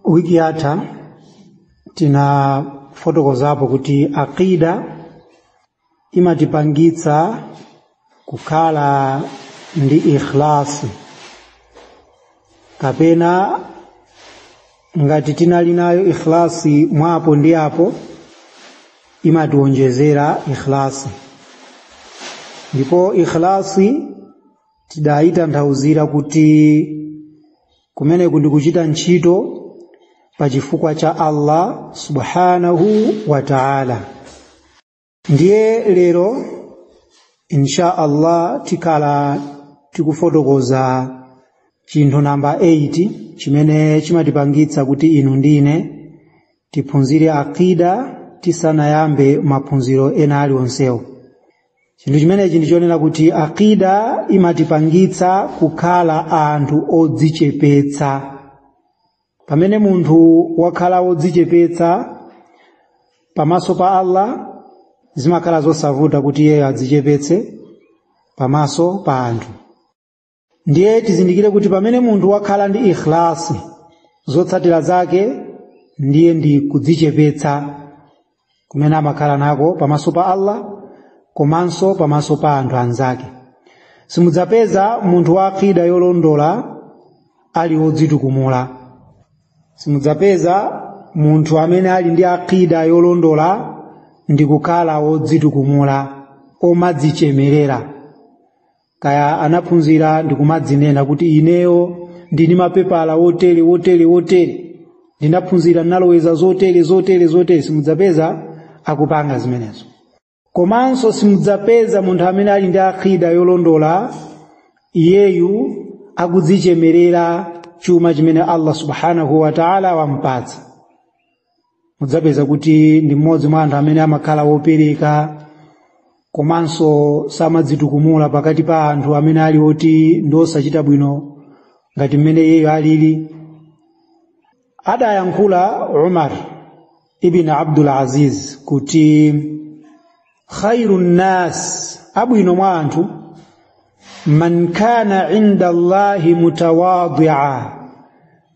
wiki yatha tinafotokozapo kuti aqida imatipangitsa kukhala ndi ikhlasi kapena ngati tinali nayo ikhlasi mwapo ndi apo imatiwonjezera ikhlasi ndipo ikhlasi tidayitanthauzira kuti kumeneku ndi kuchita ntchito pa chifukwa cha Allah subhanahu wa ta'ala ndiye lero insha Allah tikhala tikufotokoza chinthu namba 8 chimene chimatipangitsa kuti inu ndi ine tiphunzire aqida tisanayambe maphunziro ena alionsewo chinthu chimenechi ndi chonena kuti aqida imatipangitsa kukhala anthu odzichepetsa pamene munthu wakhala wodzichepetsa pamaso pa Allah zimakhala zosavuta kuti iyeyo adzichepetse pamaso pa anthu ndiye tizindikire kuti pamene munthu wakhala ndi ikhlasi zotsatira zake ndiye ndi kudzichepetsa kumene amakhala nako pamaso pa Allah komanso pamaso pa anthu anzake simudzapeza munthu wa aqida yolondola ali wodzitukumula simudzapeza munthu amene ali ndi aqida yolondola ndi kukhala wodzitukumula omadzichemerera kaya anaphunzira ndikumadzinena kuti ineyo ndili ndi mapepala otere otere otere ndinaphunzira naloweza zotere zotere zotere simudzapeza akupanga zimenezo komanso simudzapeza munthu amene ali ndi aqida yolondola iyeyu akudzichemerera chuma chimene Allah subhanahu wa ta'ala wampatsa mudzapeza kuti ndi mmodzi mwa anthu amene amakhala wopereka komanso samadzitukumula pakati pa anthu amene ali oti ndi osachita bwino ngati mmene iyeyo alili adayankhula Umar ibn Abdul Aziz kuti khairu nnas abwino mwa anthu man kana inda allahi mutawadia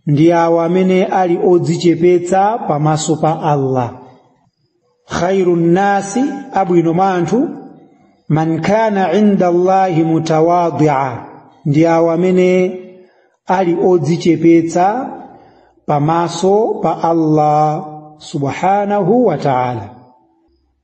ndi awo amene ali odzichepetsa pamaso pa allah khairu nnasi abwino mwa anthu man kana inda allahi mutawadia ndi awo amene ali odzichepetsa pamaso pa allah subhanahu wa ta'ala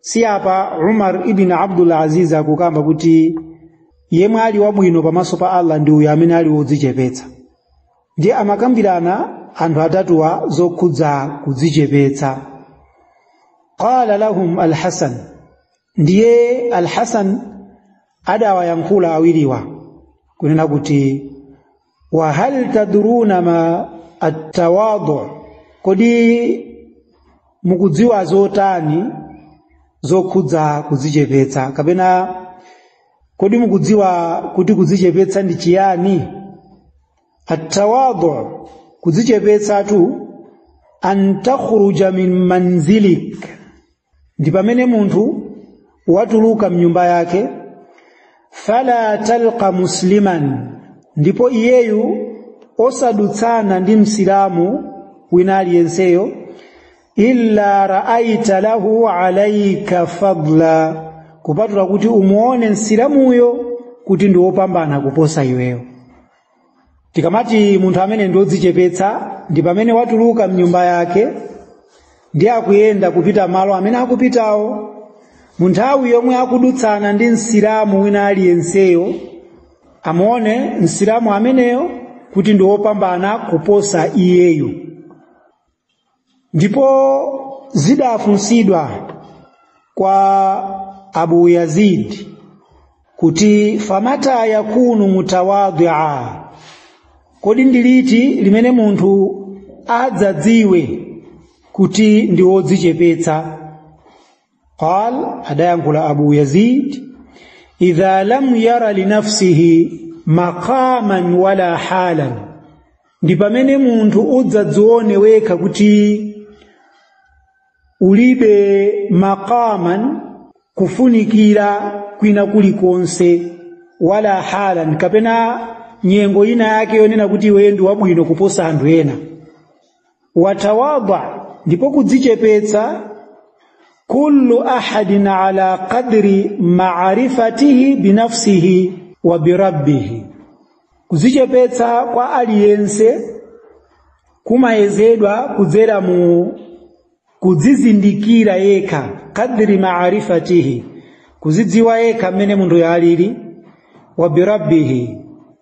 si apa umar ibn abdul aziz akukamba kuti yemwe ali wabwino pamaso pa allah ndi uyo amene ali wodzichepetsa ndiye amakambirana anthu atatuwa zokhudza kudzichepetsa qala lahum alhasan ndiye alhasan adawayankhula awiriwa kunena kuti wa hal tadruna ma attawadu kodi mukudziwa zotani zokhudza kudzichepetsa kapena kodi mukudziwa kuti kudzichepetsa ndi chiyani attawadu kudzichepetsatu an takhruja min manzilik ndi pamene munthu watuluka mnyumba yake fala talqa musliman ndipo iyeyu osadutsana ndi msilamu wina aliyenseyo illa raaita lahu alaika fadla kupatula kuti umuone msilamuyo kuti ndi wopambana kuposa iweyo tikamati munthu amene ndi odzichepetsa ndi pamene watuluka mnyumba yake ndi akuyenda kupita malo amene akupitawo mu nthawi yomwe akudutsana ndi msilamu wina aliyenseyo amuone msilamu ameneyo kuti ndi wopambana kuposa iyeyo ndipo zidafunsidwa kwa abu yazid kuti famata yakunu mutawadhia kodi ndi liti limene munthu adzadziwe kuti ndi wodzichepetsa qal adayankhula abu yazid idha lam yara linafsihi maqaman wala halan ndi pamene munthu udzadzione wekha kuti ulibe maqaman kufunikira kwina kulikonse wala halan kapena nyengo ina yake yonena kuti iwe ndi wabwino kuposa anthu ena watawadha ndipo kudzichepetsa kullu ahadin ala qadri ma'rifatihi binafsihi wa birabbihi kudzichepetsa kwa aliyense kumayezedwa kudzera mu kudzizindikira yekha qadri ma'rifatihi kuzidziwa yekha mmene munthuyo alili wa birabbihi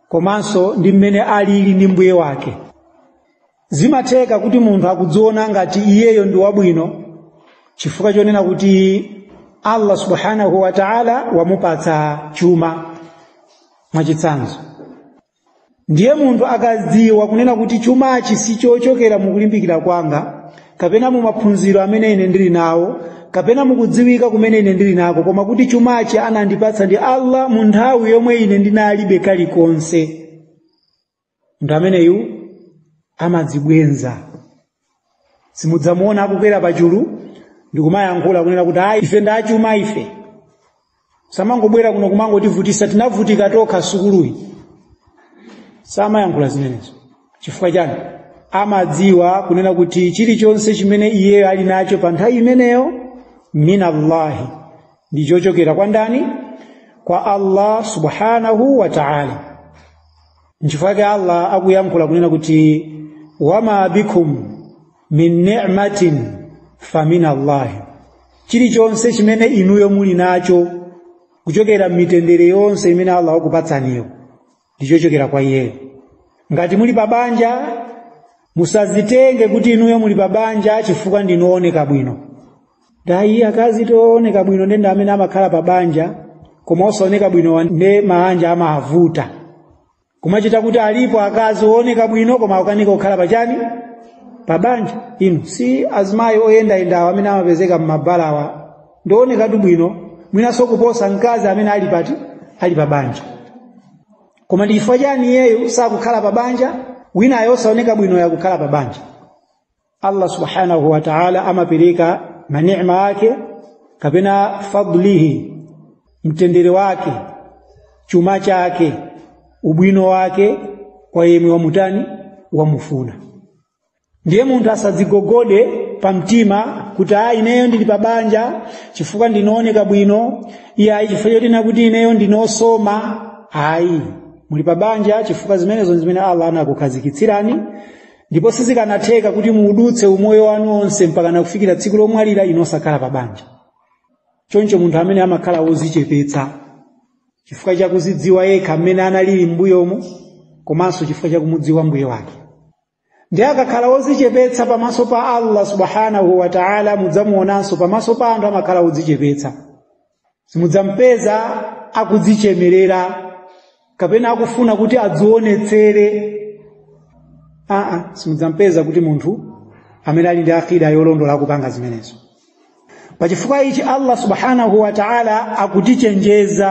komanso ndi mmene alili ndi mbuye wake zimatheka kuti munthu akudziona ngati iyeyo ndi wabwino chifukwa chonena kuti allah subhanahu wa taala wamupatsa chuma mwachitsanzo ndiye munthu akadziwa kunena kuti chumachi si chochokera mukulimbikira kwanga kapena mu maphunziro amene ine ndili nawo kapena mukudziwika kumene ine ndili nako koma kuti chumachi anandipatsa ndi allah mu nthawi yomwe ine ndinalibe kalikonse munthu ameneyu amadzibwenza simudzamuona akukwera pachulu ndikumayankhula kunena kuti ayi ife ndachuma ife samangobwera kuno kumangotivutisa tinavutika tokha sukuluyi samayankhula zimenezo chifukwa chani amadziwa kunena kuti chilichonse chimene iyeyo ali nacho pa nthawi imeneyo minallahi ndichochokera kwa ndani kwa allah subhanahu wa taala nchifukwa chake allah akuyankhula kunena kuti wama bikum min ni'matin famin allahi chilichonse chimene inuyo muli nacho kuchokera mitendere yonse imene allah wakupatsaniyo ndichochokera kwa iyeyo ngati muli pa banja musazitenge kuti inuyo muli pa banja chifukwa ndinu ooneka bwino Dayi akazi ooneka bwino ndi amene amakhala pa banja koma osaoneka bwino nde maanja amawavuta. Kumachita kuti alipo akazi ooneka bwino koma akukanika kukhala pa chani? Pa banja. Inu si azimayi oyendayendawo amene amapezeka m'mabalawa ndi oonekatu bwino mwinanso kuposa mkazi amene ali pati ali pa banja. Koma ndi chifukwa chani iyeyo sakukhala pa banja winayo osaoneka bwinoyo akukhala pa banja? Allah subhanahu wa ta'ala amapereka mani'ma ake kapena fadlihi mtendere wake chuma chake ubwino wake kwa yemwe wamutani wamufuna ndiye munthu asadzigogode pa mtima kuti a ineyo ndili pa banja chifukwa ndine ooneka bwino iyayi chifukwa chonena kuti ineyo ndine osoma ayi muli pa banja chifukwa zimenezo ndi zimene Allah anakukhazikitsirani ndipo sizikanatheka kuti muudutse umoyo wanu onse mpakana kufikira tsiku lomwalira inu osakhala pa banja choncho munthu amene amakhala wozichepetsa chifukwa chakuzidziwa yekha mmene analili m'mbuyomo komanso chifukwa chakumudziwa mbuye wake ndiye akakhala wozichepetsa pamaso pa allah subhanahu wa taala mudzamuonanso pamaso pa anthu amakhala wodzichepetsa simudzampeza akudzichemerera kapena akufuna kuti adziwonetsere aa simudzampeza kuti munthu amene ali ndi akida yolondola akupanga zimenezo pachifukwa ichi allah subhanahu wa taala akutichenjeza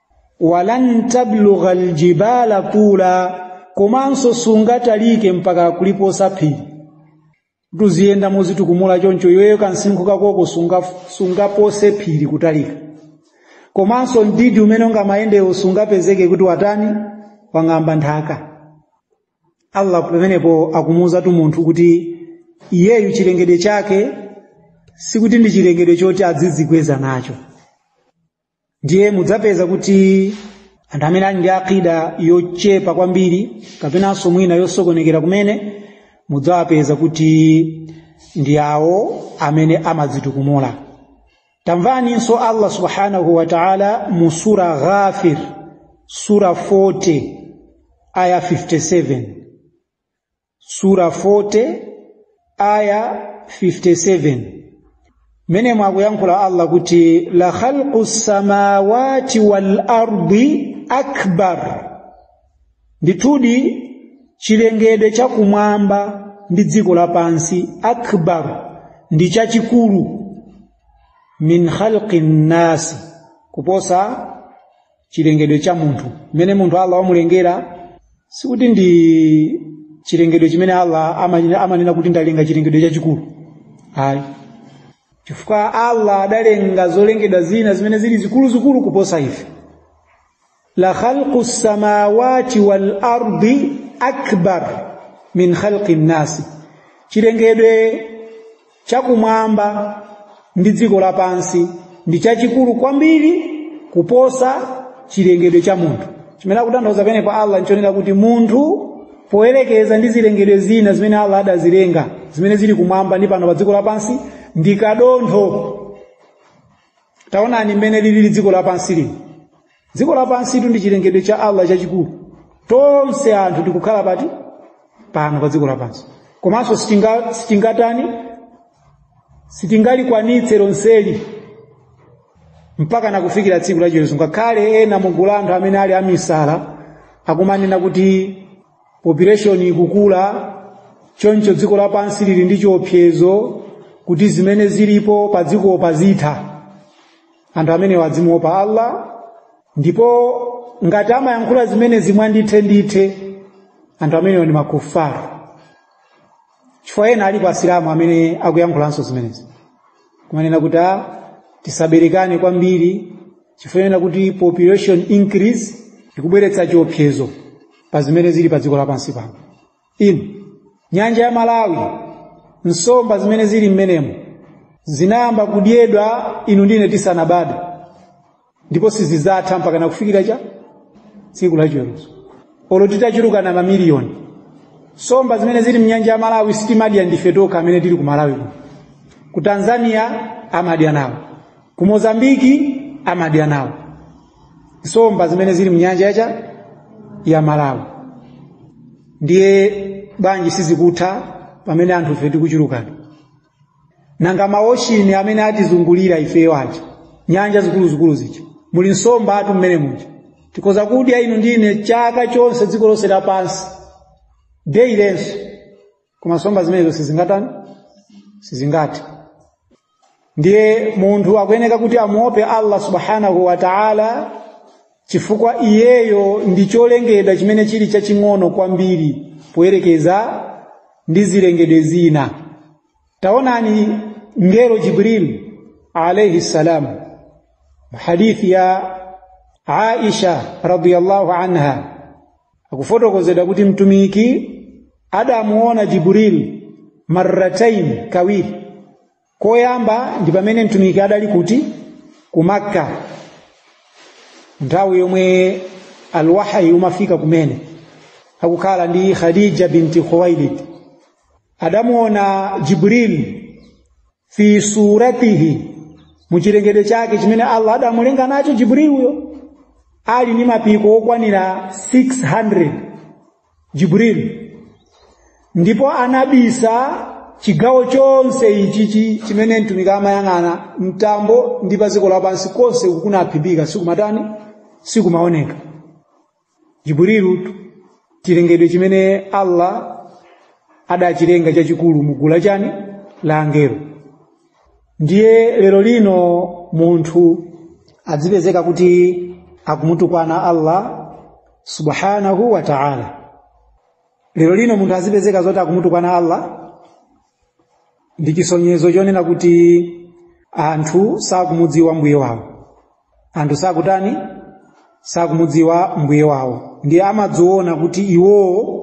walan tablugha aljibala tula komanso sungatalike mpaka kuliposa phiri kuti uziyenda mozitukumula choncho iweyo kansinkhu kakoko sungapose phiri kutalika komanso mdidi umene ungamayendewo sungapezeke kuti watani wang'amba nthaka allah pamenepo akumuwuzatu munthu kuti iyeyu chilengedwe chake sikuti ndi chilengedwe choti adzidzikweza nacho ndiye mudzapeza kuti anthu amene ali ndi akida yochepa kwambiri kapenanso mwina yosokonekera kumene mudzawapeza kuti ndi awo amene amadzitukumula tamvaninso allah subhanahu wa taala mu sura ghafir sura 40 aya 57 sura 40 aya 57 mmenemo akuyankhula allah kuti la khalqu samawati wal ardi akbar ndithudi chilengedwe cha kumwamba ndi dziko lapansi akbar ndi chachikulu min khalqi nnasi kuposa chilengedwe cha munthu mmene munthu allah wamulengera sikuti ndi chilengedwe chimene allah amanena kuti ndalenga chilengedwe chachikulu ayi chifukwa allah adalenga zolengedwa zina zimene zili zikuluzikulu kuposa ife la khalqu lsamawati walardi akbar min khalqi nnasi chilengedwe chakumwamba ndi dziko lapansi ndi chachikulu kwambiri kuposa chilengedwe cha munthu chimene akutanthauza penepa allah nchonena kuti munthu poyerekeza ndi zilengedwe zina zimene allah adazilenga zimene zili kumwamba ndi pano pa dziko lapansi ndi kadontho taonani mmene lilili dziko lapansi lino dziko lapansitu ndi chilengedwe cha allah chachikulu tonse anthu tikukhala pati pano pa dziko lapansi komanso sitingatani sitingalikwanitse lonseli mpaka nakufikira tsiku la chiweruzo ngakhale ena mugulu la anthu amene ali amisala akumanena kuti population ikukula choncho dziko lapansi lili ndi chiopsezo kuti zimene zilipo pa dzikopa zitha anthu amenewa adzimuopa allah ndipo ngati amayankhula zimenezi mwandithendithe anthu amenewa ndi makufaru chifukwa ena alipo asilamu amene akuyankhulanso zimenezi kumanena kuti a tisaberekane kwambiri chifukwa ena kuti population increase ikubweretsa chiopsezo pa zimene zili pa dziko lapansi pano inu nyanja ya malawi nsomba zimene zili mmenemo zinayamba kudyedwa inu ndine tisanabadwe ndipo sizidzatha mpaka na kufikira cha tsiku la chiweruzo olo titachulukana mamiliyoni nsomba zimene zili mnyanja ya malawi sitimadya ndife tokha amene tili ku malawi kuno ku tanzania amadya nawo ku mozambiki amadya nawo nsomba zimene zili mnyanja yacha ya malawi ndiye bwanji sizikutha pamene anthufe tikuchulukana nanga maoshini amene atizungulira ifeyo aja nyanja zikuluzikulu zija muli nsombatu mmene muja tikoza kudya inu ndi ine chaka chonse dziko lonse lapansi deyilenso koma nsomba zimenezo sizingatani sizingathe ndiye munthu akuyeneka kuti amuope allah subhanahu wa taala chifukwa iyeyo ndi cholengedwa chimene chili chaching'ono kwambiri poyerekeza ndi zilengedwe zina taonani ngelo jibril alayhi salam hadithi ya aisha radiyallahu anha akufotokozedwa kuti mtumiki adamuona jibril marratain kawiri koyamba ndi pamene mtumiki adali kuti ku makka nthawi yomwe alwahyi umafika kumene akukhala ndi khadija binti khuwailid adamuona jibril fi suratihi muchilengedwe chake chimene allah adamulenga nacho jibril uyo ali ndi mapiko okwanira 600 jibril ndipo anabisa chigawo chonse ichi chi- chimene mtumiki amayang'ana mtambo ndi pa dziko lapansi konse uku kunaphimbika sikumatani sikumaoneka jibril chilengedwe chimene allah adachilenga chachikulu mu gulu la chani la angelo ndiye lero lino munthu adzipezeka kuti akumutukwana allah subhanahu wa ta'ala lero lino munthu azipezeka zoti akumutukwana allah ndi chisonyezo chonena kuti anthu sakumudziwa mbuye wawo anthu sakutani sakumudziwa mbuye wawo ndiye amadziona kuti iwowo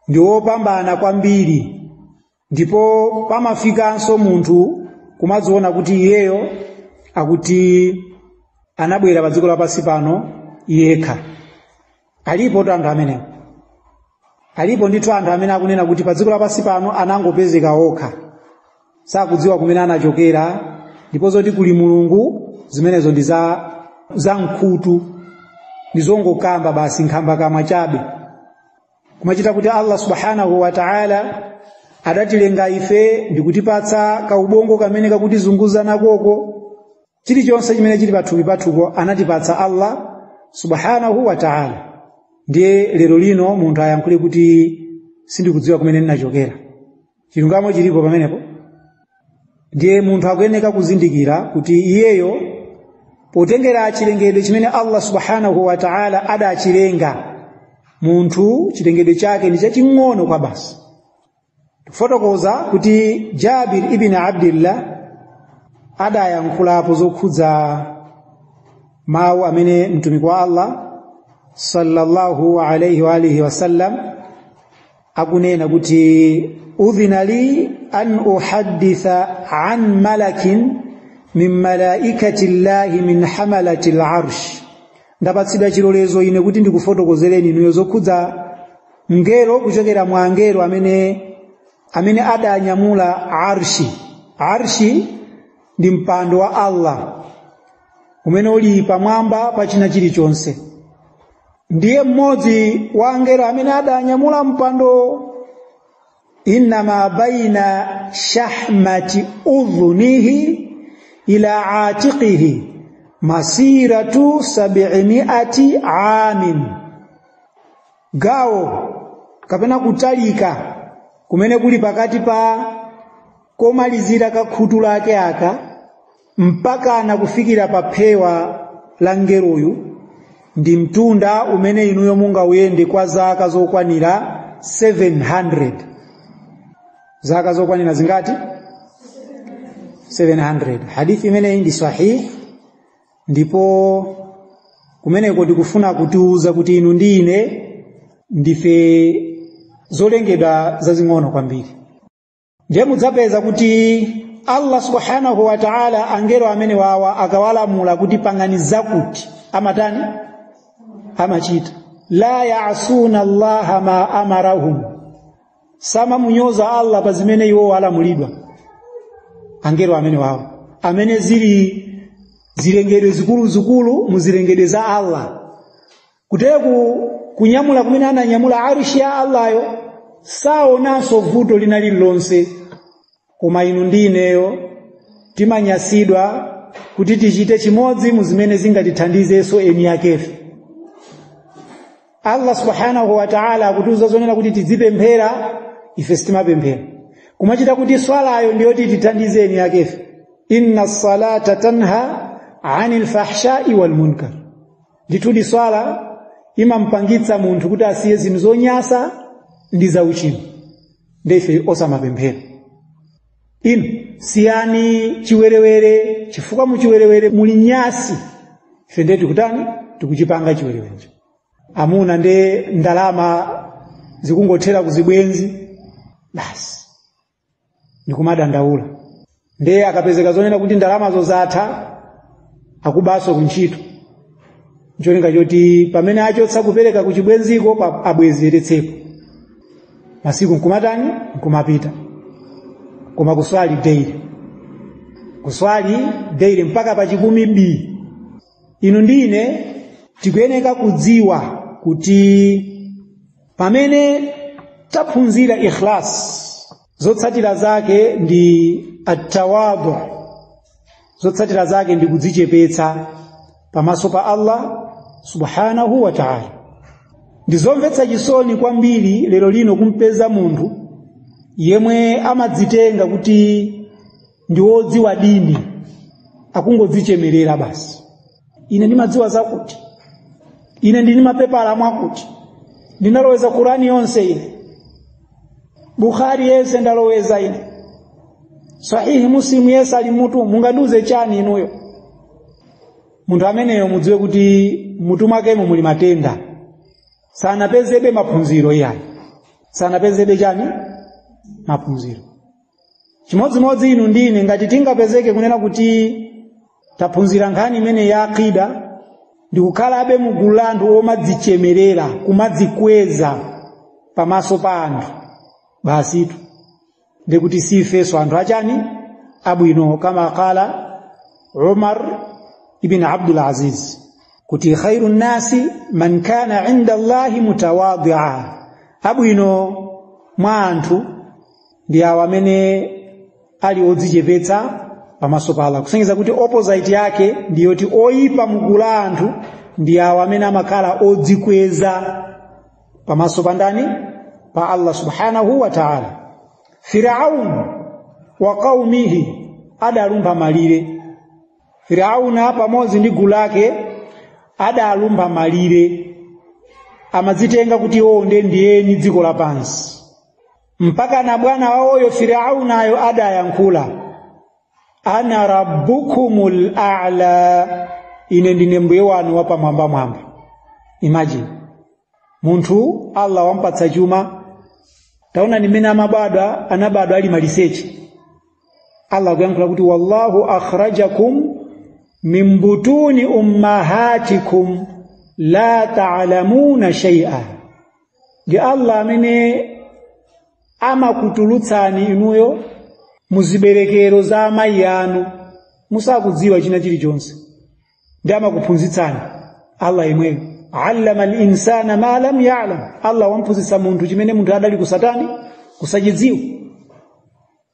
ndi wopambana kwambiri ndipo pamafikanso munthu kumadziona kuti iyeyo akuti anabwera pa dziko lapansi pano yekha alipotu anthu amenewo alipo ndithu anthu amene akunena kuti pa dziko lapansi pano anangopezeka okha sakudziwa kumene anachokera ndipo zoti kuli mulungu zimenezo ndi za za nkhutu ndi zongokamba basi nkhambakamwa chabe kumachita kuti allah subhanahu wa taala adatilenga ife ndikutipatsa kaubongo kamene kakutizunguza nakoko chilichonse chimene chili pathupi pathupo anatipatsa allah subhanahu wa taala ndiye lero lino munthu ayankhule kuti sindikudziwa kumene ndinachokera chilungamo chilipo pamenepo ndiye munthu akuyeneka kuzindikira kuti iyeyo potengera chilengedwe chimene allah subhanahu wa taala adachilenga munthu chilengedwe chake ndi chaching'ono kwabasi tikufotokoza kuti jabir ibn abdillah adayankhulapo zokhudza mawu amene mtumiki wa allah sallallahu alaihi wa alihi wasallam akunena kuti udhina li an uhadditha an malakin min malaikati llahi min hamalati larsh ndapatsidwa chilolezo ine kuti ndikufotokozereni inuyo zokhudza mngelo kuchokera mwa angelo amene amene adanyamula arshi arshi ndi mpando wa allah umene uli pamwamba pa china chilichonse ndiye mmodzi wa angelo amene adanyamula mpando inna ma baina shahmati udhunihi ila atiqihi masiratu sabimiati amin gawo kapena kutalika kumene kuli pakati pa komalizira kwa khutu lake aka mpaka na kufikira pa phewa la mngeloyu ndi mtunda umene inuyo mungauyende kwa zaka zokwanira 700 zaka zokwanira zingati 700 hadithi imeneyi ndi sahih ndipo kumeneko ndikufuna kutiuza kuti inu ndi ine ndife zolengedwa zazing'ono kwambiri ndiye mudzapeza kuti allah subhanahu wa taala angelo amenewawa akawalamula kuti pangani zakuti amatani amachita la yasuna allaha ma amarahum samamunyoza allah pa zimene iwo alamulidwa angelo amenewawa amene zili zilengedwe zikuluzikulu mu zilengedwe za allah kuteku kunyamula kumene ananyamula arishi ya allahyo saonanso vuto lina lililonse koma inu ndi ineyo timanyasidwa kuti tichite chimodzi mu zimene zingatithandizenso eni yakefe allah subhanahu wa taala akutiuza zonena kuti tidzipemphera ife sitimapemphera kumachita kuti swalayo ndiyo titithandize eni yakefe inna salata tanha ani lfahshai walmunkar ndithudi swala imamupangitsa munthu kuti asiye zinthu zonyasa ndi zauchimo ndiye ife osamapemphera inu siyani chiwerewere chifukwa muchiwerewere muli nyasi ife ndiye tikutani tikuchipanga chiwerewerecho amuna ndiye ndalama zikungothera kuzibwenzi basi ndikumadandaula ndiye akapezeka zonena kuti ndalama zosatha akubaso kuntchito ncholinga choti pamene achotsa kupereka kuchibwenziko abwezeretsepo masiku nkumatani nkumapita koma kuswali daily kuswali daily mpaka pa chikumi bi inu ndine tikuyeneka kudziwa kuti pamene taphunzira ikhlas zotsatira zake ndi attawadu zotsatira zake ndi kudzichepetsa pamaso pa Allah subhanahu wa ta'ala ndizomvetsa chisoni kwambiri lero lino kumpeza munthu yemwe amadzitenga kuti ndi wodziwa dini akungodzichemerera basi ine ndimadziwa zakuti ine ndi ni mapepala mwakuti ndinaloweza Qur'ani yonse ine bukhari yese ndaloweza ine sahihi muslimu yese ali mutu mungandiuze chani inuyo munthu ameneyo mudziwe kuti mutu mwakemo muli matenda sanapezebe maphunziro iyayi sanapezebe chani maphunziro chimodzimodzi inu ndine ngati tingapezeke kunena kuti taphunzira nkhani imene ya aqida ndikukhalabe mu gulu la anthu omadzichemerera kumadzikweza pamaso pa anthu basitu ndiye kuti sifeso anthu achani abwino kama qala umar ibn abdul aziz kuti khairu nnasi man kana inda allahi mutawadia abwino mwa anthu ndi awo amene ali odzichepetsa pamaso pa Allah kusonyeza kuti opposite yake ndi yoti oyipa mgulu la anthu ndi awo amene amakhala odzikweza pamaso pa ndani pa Allah subhanahu wa ta'ala Firaun wa qaumihi adalumpha malire Firauna pamodzi ndi gulu lake adalumpha malire amadzitenga kuti iwo ndiye ndi eni dziko lapansi mpaka na bwana waoyo Firaunayo adayankhula ana rabbukumul a'la ine ndine mbuye wanu wapamwambamwamba imagine munthu allah wampatsa chuma taonani mmene amabadwa anabadwa ali maliseche allah akuyankhula kuti wallahu akhrajakum min butuni ummahatikum la ta'lamuna shay'a ndi Allah amene amakutulutsani inuyo muziberekero za amayi anu musakudziwa china chilichonse nde amakuphunzitsani Allah yemweyo allama al-insana ma lam ya'lam Allah wamphunzitsa munthu chimene munthu adali kusatani kusachidziwa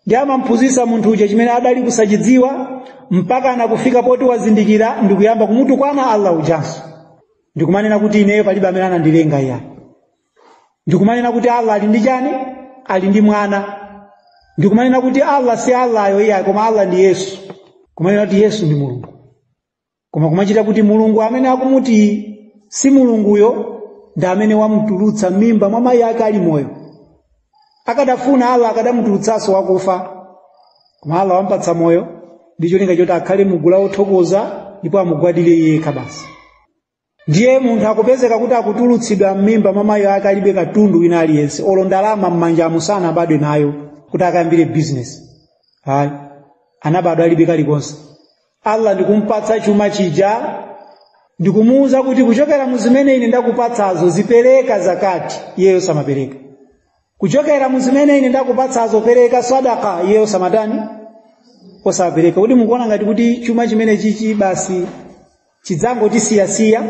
nde amamphunzitsa munthu uja chimene adali kusachidziwa mpaka nakufika poti wazindikira ndikuyamba kumutukwana allah ujanso ndikumanena kuti ineyo palibe amene anandilenga iyayi ndikumanena kuti allah ali ndi chani ali ndi mwana ndikumanena kuti allah si allahyo iyayi koma allah ndi yesu kumanena kuti yesu ndi mulungu koma kumachitika kuti mulungu amene akumuti si mulunguyo ndi amene wamutulutsa m'mimba mwa mayi ake ali moyo akadafuna allah akadamutulutsanso wakufa koma allah wampatsa moyo ndi cholinga choti akhale mugulu la wothokoza ndipo amugwadire iye yekha basi ndiye munthu akupezeka kuti akutulutsidwa m'mimba mwa mayi ake alibe katundu wina aliyense olo ndalama m'manjamu sanabadwe nayo kuti akayambire bizinesi ayi anabadwa alibe kalikonse allah ndikumpatsa chuma chija ndikumuwuza kuti kuchokera mu zimene ine ndakupatsazo zipereka zakati iye osamapereka kuchokera mu zimene ine ndakupatsazo pereka sadaka iye osamatani osamapereka kuti mukuona ngati kuti chuma chimenechichi basi chidzangotisiyasiya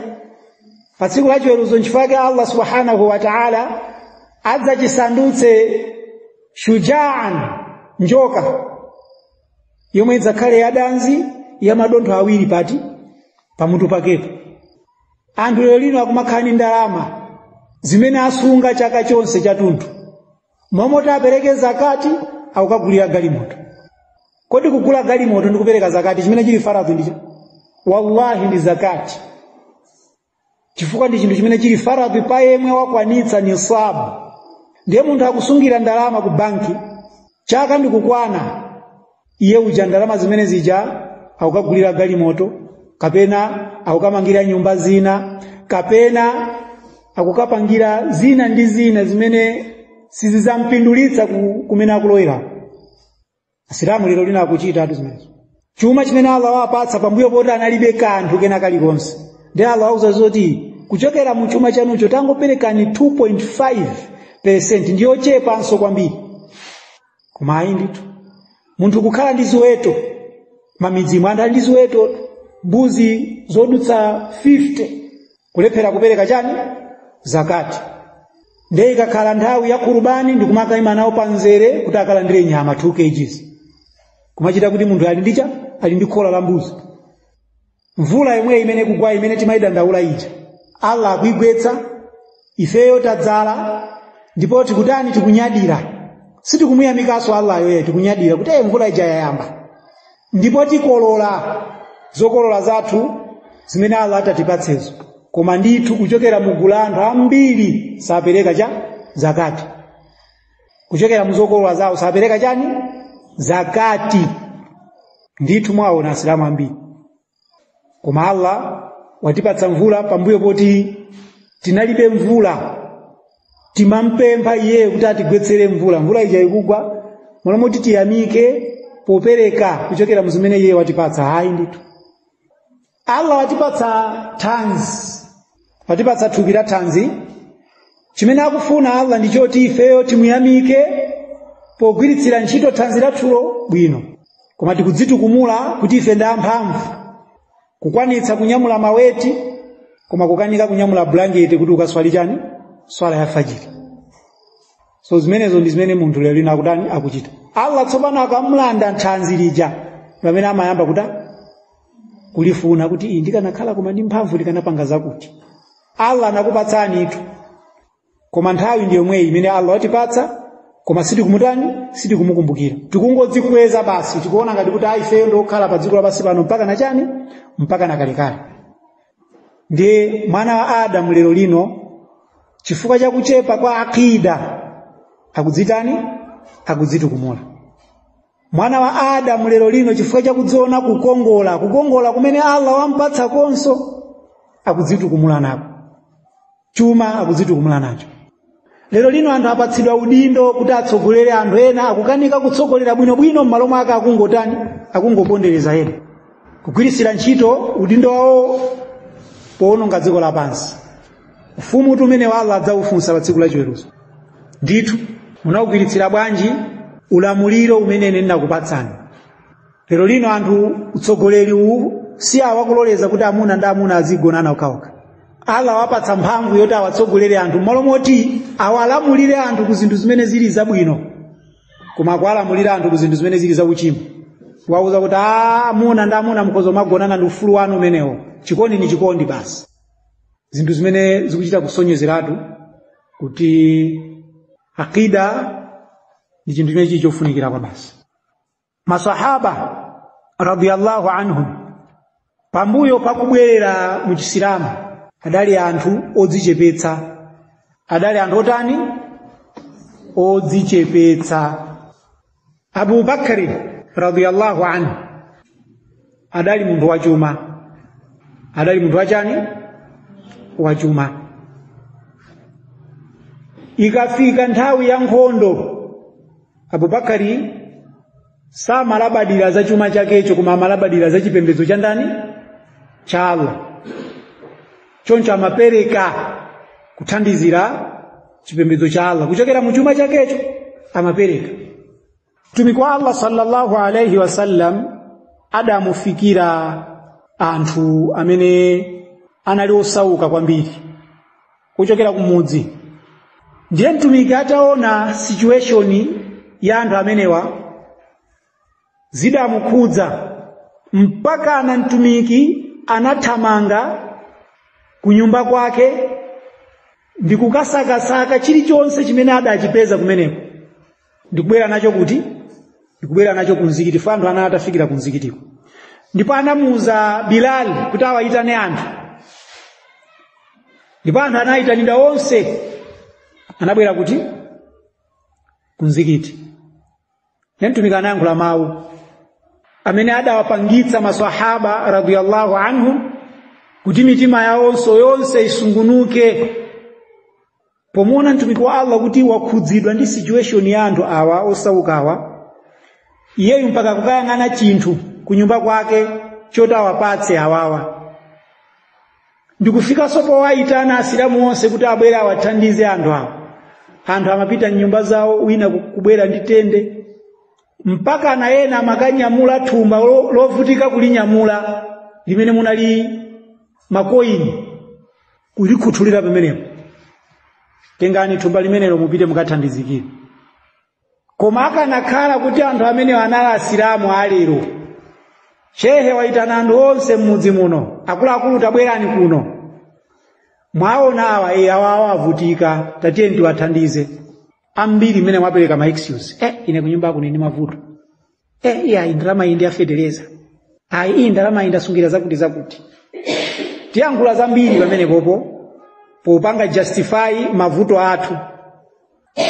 pa tsiku la chiweruzo nchifukwa chake allah subhanahu wa taala adzachisandutse shujaan njoka yomwe idzakhale yadanzi ya madontho awiri pati pamutu pakepo anthu lero lino akumakhala ndi ndalama zimene asunga chaka chonse chathunthu mmalo moti apereke zakati akukagulira galimoto kodi kugula galimoto ndi kupereka zakati chimene chili faradhi ndi chiti wallahi ndi zakati chifukwa ndi chinthu chimene chili faradhi pa yemwe wakwanitsa nisabu ndiye munthu akusungira ndalama ku banki chaka ndikukwana iye uja ndalama zimene zija akukagulira galimoto kapena akukamangira nyumba zina kapena akukapangira zina ndi zina zimene sizizampindulitsa kumene akulowera asilamu lero lino akuchitatu zimenezo chuma chimene allah wapatsa pambuyo poti analibe kanthu kena kalikonse ndiye allah wawauza zoti kuchokera mu chuma chanucho tangoperekani 2.5 percent ndiyochepanso kwambiri koma ayi ndithu munthu kukhala ndi ziweto m'mamidzimu anthu ali ndi ziweto mbuzi zodutsa 50 kulephera kupereka chani zakati ndiye ikakhala nthawi ya kurubani ndikumakaima nawo panzere kuti akalandire nyama 2 kgs kumachita kuti munthu ali ndi cha ali ndi khola la mbuzi mvula yomweyi imene ikugwa imene timayidandaula ija allah akuigwetsa ifeyo tadzala ndipo tikutani tikunyadira sitikumuyamikanso allah iyayi tikunyadira kuti "Eh, mvula ija yayamba ndipo tikolola zokolola zathu zimene Allah atatipatsezo koma ndithu kuchokera mu gulu la anthu ambiri sapereka chani zakati kuchokera mu zokolola zawo sapereka chani zakati ndithu mwaona asilamu ambiri koma allah watipatsa mvula pambuyo poti tinalibe mvula timampempha iyeyo kuti atigwetsere mvula mvula ija ikugwa m'malo moti tiyamike popereka kuchokera mu zimene iye watipatsa ayi ndithu allah watipatsa thanzi watipatsa thupi la thanzi chimene akufuna allah ndi choti ifeyo timuyamike pogwiritsira ntchito thanzi lathulo bwino koma tikudzitukumula kuti ife ndi amphamvu kukwanitsa kunyamula maweti koma kukanika kunyamula bulangeti kuti ukaswali chani swala ya fajiri so zimenezo ndi zimene munthu lero lino akutani akuchita allah tsopano akamulanda thanzi lija ndi pamene amayamba kuta kulifuna kuti ii ndikanakhala koma ndi mphamvu ndikanapanga zakuti allah anakupatsanitu koma nthawi ndi yomweyi imene allah watipatsa koma sitikumutani sitikumukumbukira tikungodzikweza basi tikuona ngati kuti ifeyo ndiokhala pa dziko lapansi pano mpaka na chani mpaka na kalekale ndiye mwana wa adamu lero lino chifukwa cha kuchepa kwa akida akudzitani akudzitukumula mwana wa adamu lero lino chifukwa chakudziona kukongola kukongola kumene allah wampatsa komanso akudzitukumula nako chuma akudzitukumula nacho lero lino anthu apatsidwa udindo kuti atsogolere anthu ena akukanika kutsogolera bwinobwino m'malo mwake akungotani akungopondereza ena kugwiritsira ntchito udindo wawo powononga dziko lapansi ufumu uti umene allah adzakufunsa pa tsiku la chiweruzo ndithu munawugwiritsira bwanji ulamuliro umene ine ndinakupatsani lero lino anthu utsogoleri uwu si awo akuloleza kuti amuna ndi amuna azigonana okhaokha allah wapatsa mphamvu yoti awatsogolere anthu mmalo moti awalamulire anthu ku zinthu zimene zili zabwino koma akuwalamulira anthu ku zinthu zimene zili zauchimo wauza kuti "Ah, amuna ndi amuna mukhoza kumagonana ndi ufulu wanu umenewo chikondi ni chikondi basi zinthu zimene zikuchita kusonyezeratu kuti akida ndi chinthu chimene chili chofunikira kwabasi masahaba radiyallahu anhum pambuyo pakubwerera mu chisilamu adali anthu odzichepetsa adali anthu otani odzichepetsa abu bakari radiyallahu anhu adali munthu wachuma adali munthu wachani wachuma ikafika nthawi ya nkhondo abubakari samalabadira za chuma chakecho koma amalabadira za chipembedzo cha ndani cha allah choncho amapereka kuthandizira chipembedzo cha Allah kuchokera mu chuma chakecho amapereka mtumiki wa Allah sallallahu alaihi wasallam adamufikira anthu amene anali osauka kwambiri kuchokera kumudzi ndiye mtumiki ataona situation ya anthu amenewa zidamukhudza mpakana mtumiki anathamanga ku nyumba kwake ndi kukasakasaka chilichonse chimene adachipeza kumeneko ndikubwera nacho kuti ndikubwera nacho ku mzikiti poti anthu anali atafikira ku mzikitiko ndipo anamuuza bilali kuti awayitane anthu ndipo anthu anayitanidwa onse anabwera kuti ku mzikiti ne mtumiki anayankhula mawu amene adawapangitsa masahaba radiyallahu anhum kuti mitima yawonso yonse isungunuke pomuona mtumiki wa allah kuti wakhudzidwa ndi situation ya anthu awa osaukawa iyeyu mpaka kukayang'ana chinthu kunyumba kwake choti awapatse awawa ndikufikanso powayitana asilamu onse kuti abwere awathandize anthu awa anthu amapita mnyumba zawo wina kubwera ndi tende mpakana ena amakanyamula thumba lo- lovutika kulinyamula limene munali makoini kulikhuthulira pamenepo tengani thumba limenelo mupite mukathandizikire koma akanakhala kuti anthu amenewo anali asilamu alero shehe waitana anthu onse m'mudzi muno akuluakulu tabwerani kuno mwaona awa e awa awa avutika tatiye tiwathandize ambiri mmene mwapereka ma excuse eh ine kunyumba uku ndi mavuto eh iya indalama iyi ndi yafetereza ayi iyi ndalama iyi ndasungira zakuti zakuti tiyankhula zambiri pamenepopo popanga justify mavuto athu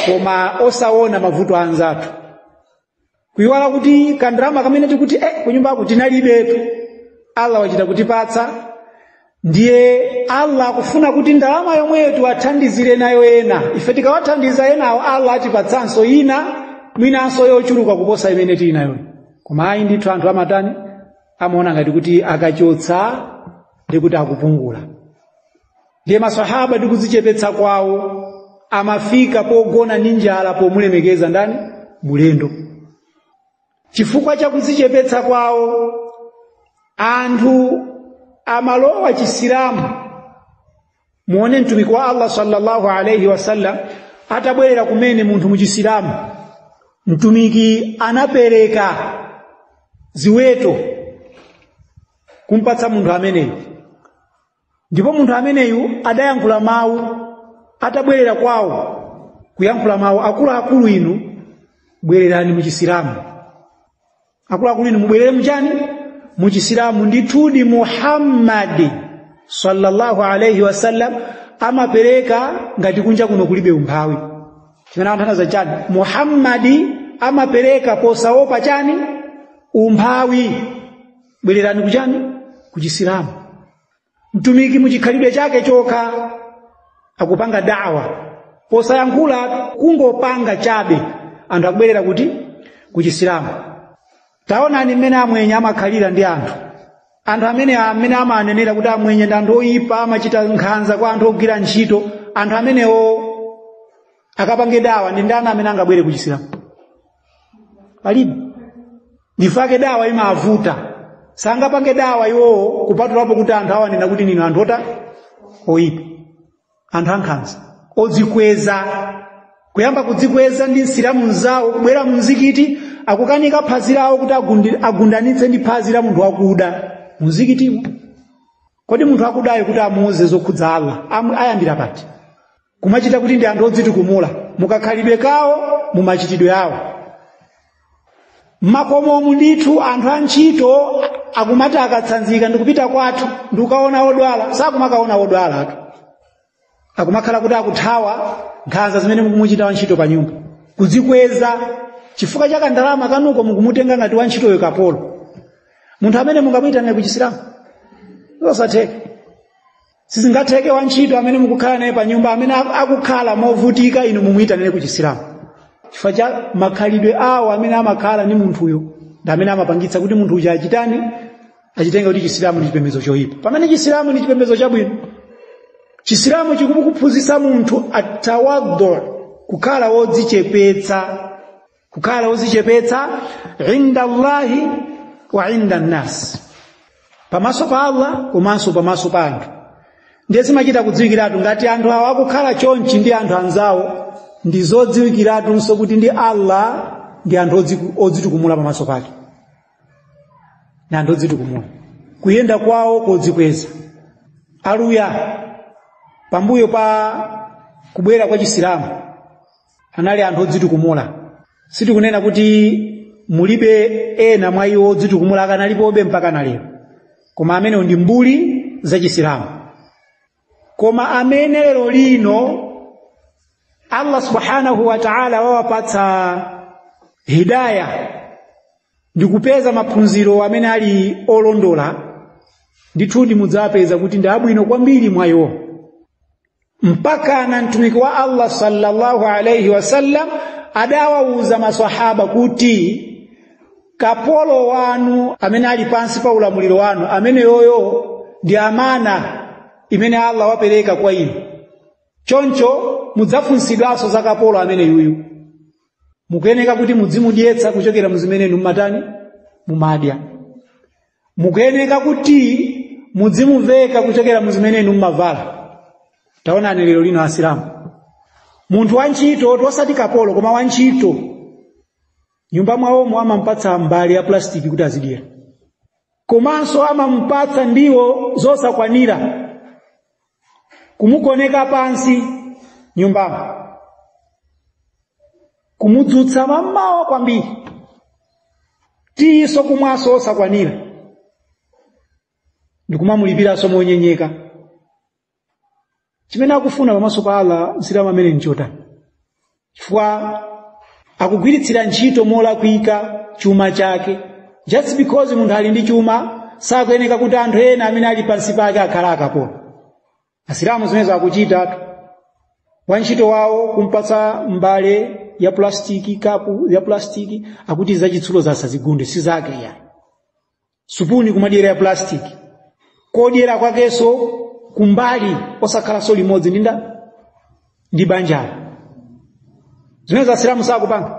koma osaona mavuto anzathu kuyiwala kuti kandalama kamene tikuti eh kunyumba uku tinalibetu allah wachita kutipatsa ndiye allah akufuna kuti ndalama yomweyo tiwathandizire nayo ena ife tikawathandiza enawo allah atipatsanso ina mwinanso yochuluka kuposa imene tili nayoyo koma ayi ndithu anthu amatani amaona ngati kuti akachotsa ndi kuti akupungula ndiye masahaba ndi kudzichepetsa kwawo amafika pogona ndi njala pomulemekeza ndani mulendo chifukwa cha kudzichepetsa kwawo anthu amalowa chisilamu muone mtumiki wa allah sallallahu alaihi wasallam atabwerera kumene munthu mu chisilamu mtumiki anapereka ziweto kumpatsa munthu ameneyu ndipo munthu ameneyu adayankhula mawu atabwerera kwawo kuyankhula mawu akuluakulu inu bwererani mu chisilamu akuluakulu inu mubwerere muchani mu chisilamu ndithudi muhammadi sallallahu alaihi wasallam amapereka ngati kunja kuno kulibe umphawi chimene anthu anaza chani muhammadi amapereka posaopa chani umphawi bwererani kuchani ku chisilamu mtumiki muchikhalidwe chake chokha akupanga dawa posayankhula kungopanga chabe anthu akubwerera kuti ku chisilamu taonani mmene amwenye amakhalira ndi anthu anthu amene amene amanenera kuti amwenye ndi anthu oyipa amachita nkhanza kwa anthu ogwira ntchito anthu amenewo akapange dawa ndi ndani amene angabwere ku chisilamu palibe ndifake dawa imavuta sangapange dawa iwowo kupatulapo kuti anthu awanena kuti ndinu anthu otani oyipa anthu ankhanza odzikweza kuyamba kudzikweza ndi msilamu mzawo kubwera mumzikiti akukanika phazi lawo kuti agundi- agundanitse ndi phazi la munthu wakuda mumzikitimo kodi munthu wakudayo kuti amuuze zokhudza allah Amu- ayambira pati kumachita kuti ndi anthu odzitukumula mukakhalidwe kawo mu machitidwe awo mmakomomu ndithu anthu a ntchito akumati akatsanzika ndikupita kwathu ndikukaona odwala sakumakaona odwala atu akumakhala kuti akuthawa nkhanza zimene mukumuchita wa ntchito pa nyumba kudzikweza chifukwa cha kandalama kanuko, mukumutenga ngati wa ntchitoyo kapolo munthu amene mungamuyitanire ku chisilamu zosatheka sizingatheke wantchito amene mukukhala naye pa nyumba amene aku- akukhala movutika inu mumuyitanire ku chisilamu chifukwa cha makhalidwe awo amene amakhala ndi munthuyo ndi amene amapangitsa kuti munthu uja achitani achitenge kuti chisilamu ndi chipembedzo choyipa pamene chisilamu ndi chipembedzo chabwino chisilamu chikukuphunzitsa munthu atawadhu kukhala wodzichepetsa kukhala ozichepetsa inda allahi wa inda nnasi pamaso pa allah komanso pamaso pa anthu ndiye zimachita kudziwikiratu ngati anthu awo akukhala chonchi ndi anthu anzawo ndi zodziwikiratunso kuti ndi allah ndi anthu odzitukumula pamaso pake ndi anthu odzitukumula kuyenda kwawo kodzikweza aluya pambuyo pa kubwera kwa chisilamu anali anthu odzitukumula sitikunena kuti mulibe ena mwa iwo odzitukumula akanalipobe mpaka na lero koma amenewo ndi mbuli zachisilamu koma amene lero lino allah subhanahu wa taala wawapatsa hidaya ndi kupeza maphunziro amene ali olondola ndithudi mudzawapeza kuti ndi abwino kwambiri mwa iwo mpaka na mtumiki wa Allah sallallahu alayhi wasallam adawauza maswahaba kuti kapolo wanu amene ali pansi pa ulamuliro wanu ameneyoyo ndi amana imene Allah wapereka kwa inu choncho mudzafunsidwanso za kapolo ameneyuyu mukuyeneka kuti mudzimudyetsa kuchokera muzimene inu mumatani mumadya mukuyeneka kuti mudzimuveka kuchokera mu zimene inu mumavala taonani lero lino asilamu munthu wantchito oti osati kapolo koma wantchito nyumba mwawomo amampatsa mbale ya plasitiki kuti azidyera komanso amampatsa ndiwo zosakwanira kumugoneka pansi nyumbamo kumudzutsa mammawa kwambiri tiyiso kumwaso osakwanira ndikumamulipiranso monyenyeka chimene akufuna pamaso pa Allah msilamu ameneyu nchotani chifukwa akugwiritsira ntchito molakwika chuma chake just because munthu ali ndi chuma sakuyeneka kuti anthu ena amene ali pansi pake akhala akapolo asilamu zimenezo akuchitatu wantchito wawo kumpatsa mbale ya plastiki kapu ya plastiki akuti zachitsulo zasazigunde si zake yayi supuni kumadyera ya plastic kodyera kwakenso kumbali osakhalanso limodzi ndi ndani ndi banjalo zimenezi asilamu sakupanga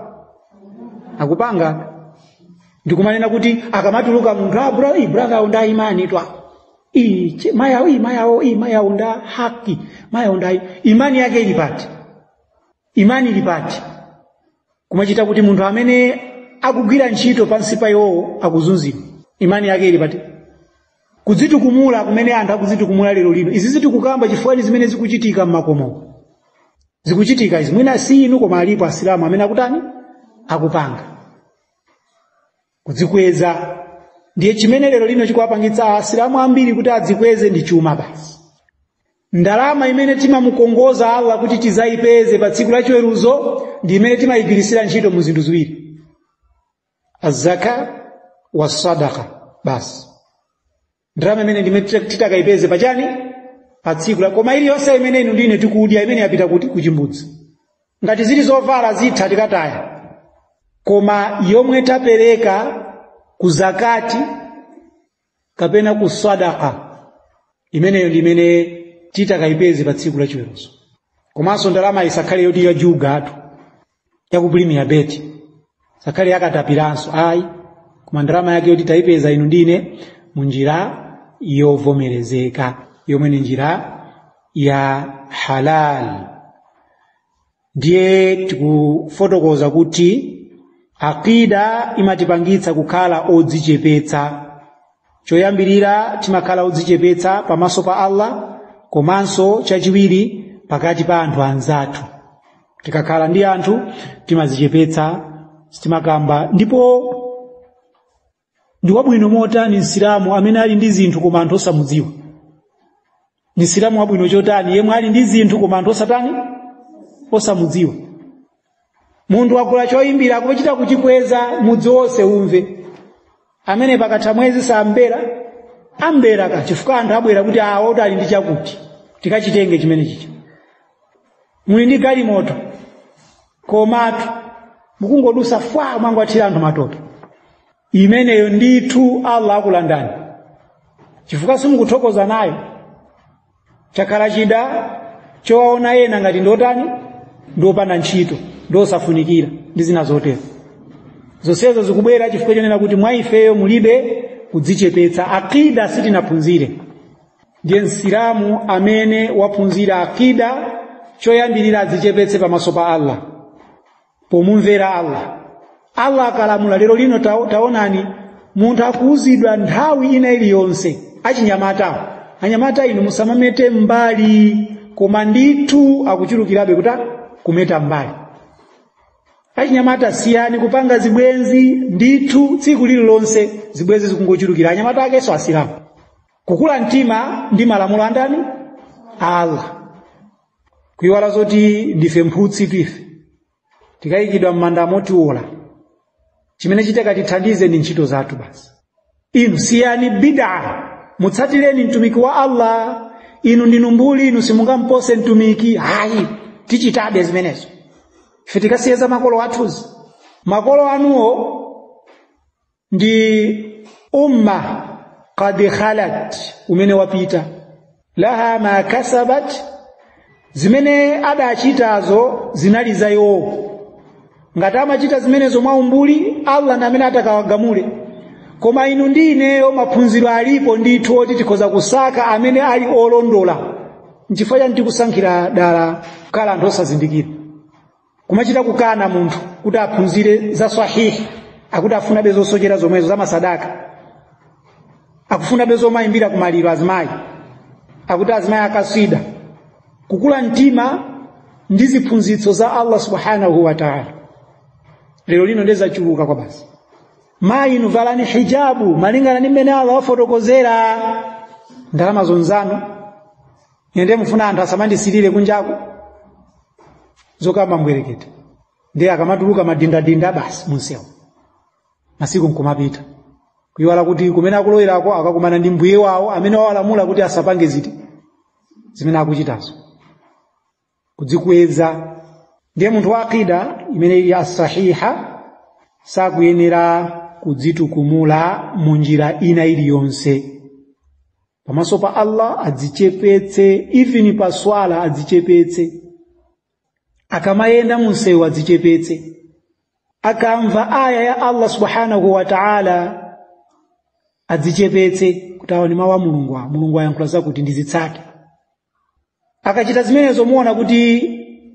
akupanga ndikumanena kuti akamatuluka munthu ah, bro, iyi brother awo nda imani twa iyi che- mayi awo iyi mayi awo iyi mayi awo nda haki mayi awo nda imani yake ili pati imani ili pati kumachitika kuti munthu amene akugwira ntchito pansi pa iwowo akuzunzidwa imani yake ili pati kudzitukumula kumene anthu akudzitukumula lero lino izizi tikukamba chifukwa ni zimene zikuchitika mmakomo zikuchitika izi mwina si inu koma alipo asilamu amene akutani akupanga kudzikweza ndiye chimene lero lino chikuwapangitsa asilamu ambiri kuti adzikweze ndi chuma basi ndalama imene timamukongoza allah kuti tizayipeze pa tsiku lachiweruzo ndi imene timayigwirisira ntchito mu zinthu ziwiri azaka wasadaka basi ndalama imene ndi imene titakayipeze pachani pa tsiku la koma iliyonse imene inu ndine tikudya imene yapita kuti kuchimbudzi ngati zili zovala zitha tikataya koma yomwe tapereka ku zakati kapena ku sadaka imeneyo ndi imene titakayipeze pa tsiku la chiweruzo komanso ndalama isakhale yoti ya juga athu ya ku premier bet isakhale ya katapiranso ayi koma ndalama yake yoti tayipeza inu ndine mu njira yovomerezeka yomwe ni njira ya halal ndiye tikufotokoza kuti aqida imatipangitsa kukhala odzichepetsa choyambirira timakhala odzichepetsa pamaso pa allah komanso chachiwiri pakati pa anthu anzathu tikakhala ndi anthu timadzichepetsa timakamba ndipo ndi wabwino motani msilamu amene ali ndi zinthu koma anthu osamudziwa ni msilamu wabwino chotani yemwe ali ndi zinthu koma anthu osatani osamudziwa munthu wagula choyimbira akuchita kuchikweza mudzi wonse umve amene pakatha mwezi sambera ambera ka chifukwa anthu abwera kuti awo oti ali ndi chakuti tikachitenge chimenechija muli ndi galimoto komatu mukungodusa fwa mwangowathira anthu matope imeneyo ndithu allah akulandani chifukwa simukuthokoza nayo chakhala chida chowaona ena ngati ndiotani ndiopanda ntchito ndiosafunikira ndi zina zotero zonsezo zikubwera chifukwa chonena kuti mwa ifeyo mulibe kudzichepetsa aqida sitinaphunzire ndiye msilamu amene waphunzira aqida choyambirira adzichepetse pamaso pa allah pomumvera allah allah akalamula lero lino taonani munthu akuwuzidwa nthawi ina iliyonse achinyamata anyamata inu musamamete mbali koma ndithu akuchulukirabe kuti kumeta mbali achinyamata siyani kupanga zibwenzi ndithu tsiku lililonse zibwenzi zikungochulukira anyamata akenso asilamu kukula mtima ndi malamulo andani a allah kuiwala zoti ndife mphutsitu ife tikayikidwa m'mandamo tiwola chimene chitakatithandize ndi ntchito zathu basi inu siyani bid'a mutsatireni mtumiki wa allah inu ndinu mbuli inu simungampose mtumiki hayi tichitabe zimenezo ife tikasiye za makolo athuzi makolo anuwo ndi umma qad khalat umene wapita laha ma kasabat zimene adachitazo zinali za iwowo ngati amachita zimenezo mwa umbuli allah ndi amene atakawagamule koma inu ndi ineyo maphunziro alipo ndithu oti tikhoza kusaka amene ali olondola nchifukwa chani tikusankhira dala kukhala anthu osazindikira kumachita kukana munthu kuti aphunzire za sahihi akuti afunabe zosochera zomwezo za masadaka akufunabe zomayimbira kumaliro azimayi akuti azimayi a kaswida kukula mtima ndi ziphunzitso za allah subhanahu wa taala lero lino ndiye zachuluka kwabasi mayi inu valani hijabu malingana ndi mmene allah wafotokozera ndalama zonzano ende mufuna anthu asamandisilire kunjaku zokamba mbwerekete ndiye akamatuluka madindadinda basi munsewu masiku nkumapita kuyiwala kuti kumene akulowerako akakumana ndi mbuye wawo amene wawalamula kuti asapange ziti zimene akuchitazo kudzikweza ndiye munthu wa aqida imene ili asahiha sakuyenera kudzitukumula mu njira ina iliyonse pamaso pa allah adzichepetse even pa swala adzichepetse akamayenda munsewu adzichepetse akamva aya ya allah subhanahu wa taala adzichepetse kuti awa ni mawu a mulungu a mulungu ayankhula zakuti ndizitsate akachita zimenezo muona kuti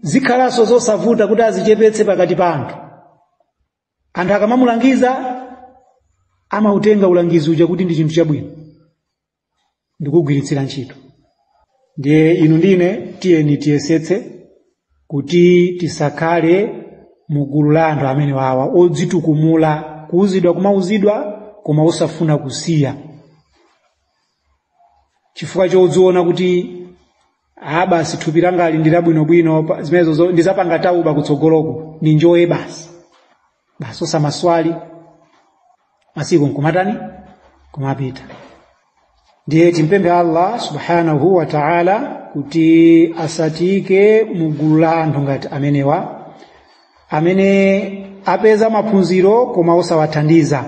zikhalanso zosavuta kuti azichepetse pakati pa anthu anthu akamamulangiza amautenga ulangizi uja kuti ndi chinthu chabwino ndikugwiritsira ntchito ndiye inu ndi ine tiyeni tiyesetse kuti tisakhale mu gulu la anthu amene wawa odzitukumula kuuzidwa kumauzidwa koma osafuna kusiya chifukwa chodziona kuti ah basi thupi langali ndi labwinobwino pa- zimenezo zo- ndizapanga tawba kutsogoloko ndinjoye basi basi osamaswali masiku nkumatani kumapita ndiye timpemphe allah subhanahu wa taala kuti asatiike mu gulu la anthu ngati amenewa amene apeza maphunziro koma osawathandiza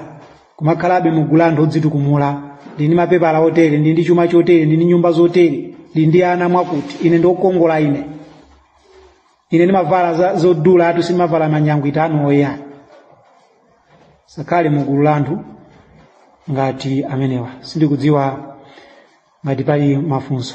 kumakhalabe mu gulu la anthu odzitukumula ndi ndi mapepala otere ndi ndi chuma chotere ndi ndi nyumba zotere ndi ndi ana mwakuti ine ndi okongola ine ine ndimavala za- zodula atu sindimavala manyangwita anu oya sakhale mu gulu la anthu ngati amenewa sindikudziwa ngati pali mafunso